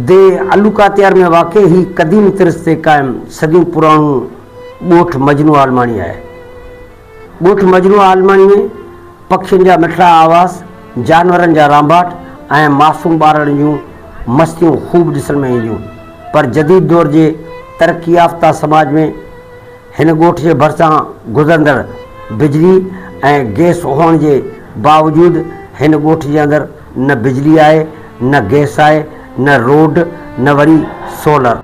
The علوڪاتيار ۾ واقع هي قديم طرز تي قائم صديون پراڻو ڳوٺ مجنو عالماڻي آهي. ڳوٺ مجروح عالماڻي ۾ پکين جا مٺڙا آواز، جانورن جا رانڀاٽ ۽ معصوم ٻارڙن جون مستيون خوب ڏسڻ ۾ اينديون پر جديد دور جي ترقي يافته سماج ۾ هن ڳوٺ جي ڀرسان گذرندڙ بجلي ۽ گئس هئڻ جي باوجود هن ڳوٺ جي اندر نه بجلي آهي نه گئس آهي نه روڊ نه وري سولر.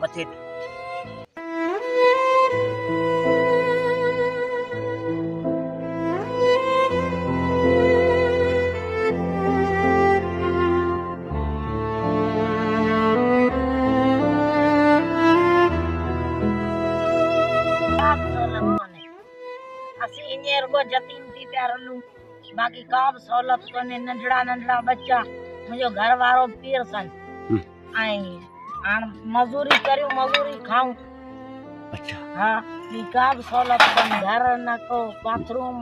مٿي تي. اسين ايئن رڳو يتيم ٿي پيا رلون باقي ڪا به سهولت ڪونهي ننڍڙا ننڍڙا ٻچا منهنجو گهر وارو پير سان ۽ هاڻ مزوري ڪريون مزوري کائون اچھا ها ٻي ڪا به سهولت ڪونهي گهر نه ڪو باٿروم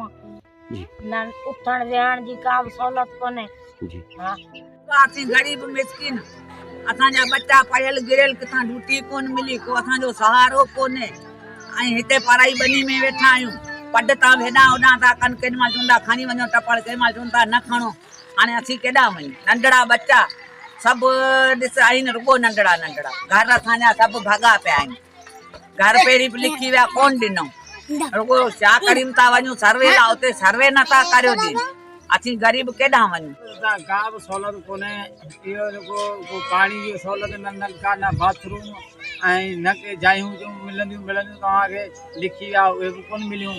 جي نه اٿڻ ويهڻ جي ڪا به سهولت ڪونهي جي ها اسين غريب مسڪين اسان جا ٻچا پڙهيل گريل ڪٿان ڊوٽي ڪونهي ملي ڪو اسان جو سهارو ڪونهي ۽ هتي پرائي ٻني ۾ ويٺا آهيون پڊ تان هيڏانهن هوڏانهن ٿا ڪن ڪيڏي مهل چون ٿا کڻي وڃو ٽپڙ ڪيڏي مهل چون ٿا نه کڻو هاڻي اسين ڪيڏانهن وڃون؟ ننڍڙا ٻچا سڀ ڏس آهن رڳو ننڍڙا ننڍڙا. گهر اسان جا سڀ ڀڳا پيا آهن. گهر پهرين به لکي ويا ڪونه ڏنئون. رڳو شاهه ڪريم تان وڃون سروي لاء اتي سروي نه ٿا ڪريو ڏين. اسين غريب ڪيڏانهن وڃون؟ اتان ڪا به سهولت ڪونهي. اهو رڳو ڪو پاڻي جي سهولت نه نلڪا نه باٿ روم ۽ نه ڪي جايون جون ملنديون ملنديون توهان کي لکي ويا اهي به ڪونه مليون.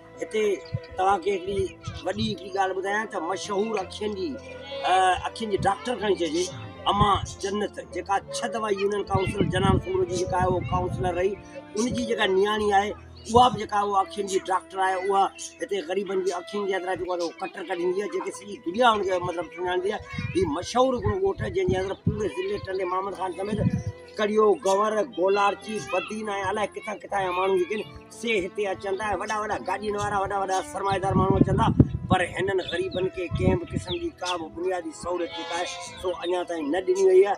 هتي توهان کي هڪڙي وڏي هڪڙي ڳالهه ٻڌايان ته مشهور اکين جي اکين جي ڊاڪٽر کڻي چئجي اما جنت جيڪا ڇهه دفعا يونين ڪائونسل جنان سمرو جي جيڪا اهو ڪائونسلر رهي ان جي جيڪا نياڻي آهي اها به جيڪا اها اکين جي ڊاڪٽر آهي اها هتي غريبن جي اکين جي اندر جيڪو آهي ڪٽر ڪڍندي آهي جيڪي سڄي دنيا ان کي مطلب سڃاڻندي آهي هي مشهور هڪڙو ڳوٺ آهي جنهن جي اندر پوري ضلعي ٽنڊي محمد خان سميت ڪڙيو گور گولارچي بدين ۽ الائي ڪٿان ڪٿان جا ماڻهو جيڪي آهن سي هتي اچن ٿا ۽ وڏا وڏا گاڏين وارا وڏا وڏا سرمائيدار ماڻهو اچن ٿا پر هنن غريبن کي ڪنهن به قسم جي ڪا به بنيادي سهولت جيڪا آهي سو اڃا تائين نه ڏني وئي آهي